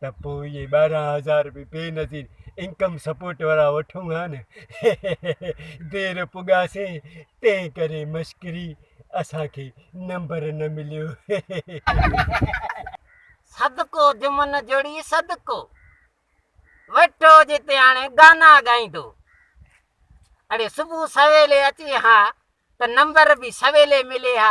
ته پوء اهي ٻارهن هزار رپي بي نظير انڪم سپورٽ وارا وٺون ها نه. دير پڳاسين تنهن ڪري مشڪري اسان کي نمبر نه مليو. صدقو جمن جوڙي صدقو ويٺو جتي هاڻي گانا ڳائيندو اڙي صبح سويلي اچي ها ته نمبر به سويلي ملي ها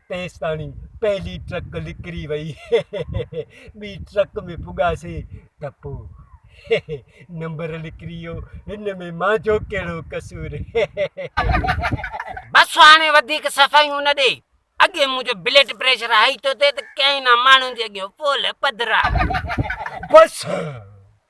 تيستاڻي پهلي ٽرڪ لڪري وئي ٻي ٽرڪ ۾ پڳاسين ته پوء نمبر لڪري ويو هن ۾ مانجو ڪهڙو قصور. بس هاڻي وڌيڪ صفايون نه ڏي اڳي منهنجو بلڊ پريشر هائي ٿو ٿئي ته ڪئين نه ماڻهن جي اڳيان پولهه پڌرا. بس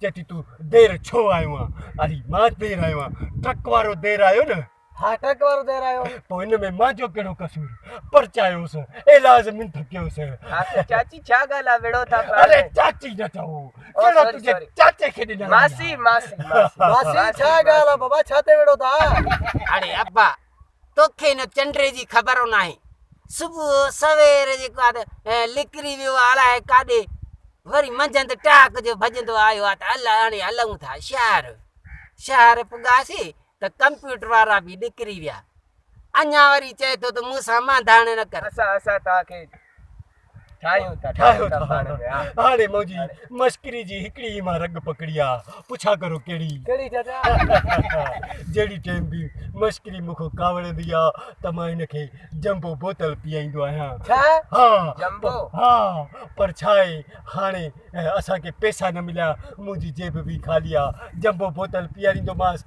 چئي ٿي تون دير ڇو آيو آن؟ علي، مان دير آيو آن، ٽرڪ وارو دير آيو نه؟ ها ٽرڪ وارو دير آيو. پوء ان ۾ مانجو ڪهڙو قصور؟ پرچايوس، ايلاز من ٿڪيوس. آخر چاچي ڇا ڳالهه آ وڙهو ٿا پيا. اري چاچي نه چئو. ڪهڙا تنهنجي چاچي کي ڏنا. ماسي ماسي ماسي. ماسي ڇا ڳالهه آ بابا ڇا تي وڙهو ٿا. اڙي ابا. توکي نه چنڊ جي خبر ناهي صبح سوير جيڪو آ ته لڪري ويو آ الاء ڪاڏي وري منجهند ٽاڪ جو ڀڄندو آيو آ ته هل هاڻي هلون ٿا شهر شهر پڳاسي ته ڪمپيوٽر وارا به ڏڪري ويا اڃا وري چئي ٿو ته مون سان مانڌاڻ نه ڪر اسان اسان توکي ٺاهيون ٿا ٺاهيون ٿا پاڻ ۾ هاڻي منهنجي مشڪري جي هڪڙي ئي مان رڳ پڪڙي آ پڇا ڪرو ڪهڙي ڪهڙي چاچا جهڙي ٽيم به مشڪري مون کان ڪاوڙندي آ ته مان هن کي جمبو بوتل پيئائيندو آهيان ڇا ها جمبو ها پر ڇا آهي هاڻي اسان کي پئسا نه مليا منهنجي جيب به خالي آ جمبو بوتل پيئاريندومانس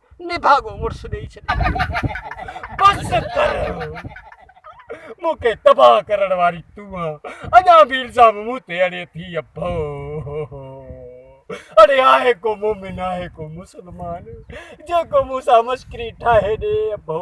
نڀاڳو مڙس ڏئي ڇڏي. بس ڪر مون کي تباهه ڪرڻ واري تون آن اڃا به الزام مون تي اڙي ٿي اڀو. اڙي آهي ڪو مومن آهي ڪو مسلمان جيڪو مون سان مشڪري ٺاهي ڏي اڀو.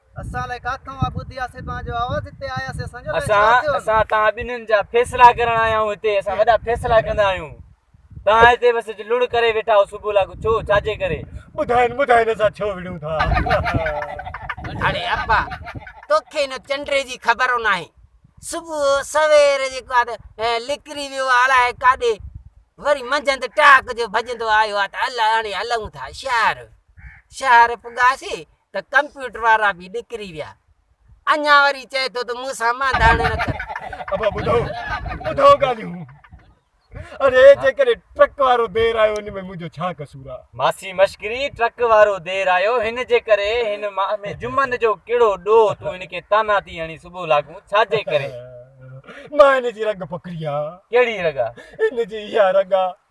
اسان الائي ڪاٿئون اھا ٻڌي آسين توھان جو آواز ھتي آياسين اسان جو الائي ڇا ٿيو اسان اسان توھان ٻنھين جا فيصلا ڪرڻ آيا آھيون ھتي اسان وڏا فيصلا ڪندا آھيون توھان ھتي بس لڙ ڪري ويٺا آھيو صبح لاڳو ڇو ڇا جي ڪري ٻڌائين ٻڌائين اسان ڇو وڙھيون ٿا اڙي ابا توکي ان چنڊري جي خبر او ناھي صبح سوير جيڪو آ ته لڪري ويو آ الائي ڪاڏي وري منجھند ٽاڪ جو ڀڄندو آيو آ ته الائي ھاڻي ھلئون ٿا شھر شھر پڳاسي ته ڪمپيوٽر وارا به ڏڪري ويا. اڃا وري چئي ٿو ته مون سان مانڌاڻي نه ڪر. ابا ٻڌو ٻڌو ڳالهيون. اڙي جيڪڏهن ٽرڪ وارو دير آيو ان ۾ منهنجو ڇا قصور آ. ماسي مشڪري ٽرڪ وارو دير آيو هن جي ڪري هن مان ۾ جمن جو ڪهڙو ڏوهه تون هن کي طعنا ٿي هڻي صبح لاڳون ڇا جي ڪري. مان هن جي رڳ پڪڙي آ. ڪهڙي رڳ آ. هن جي اها رڳ آ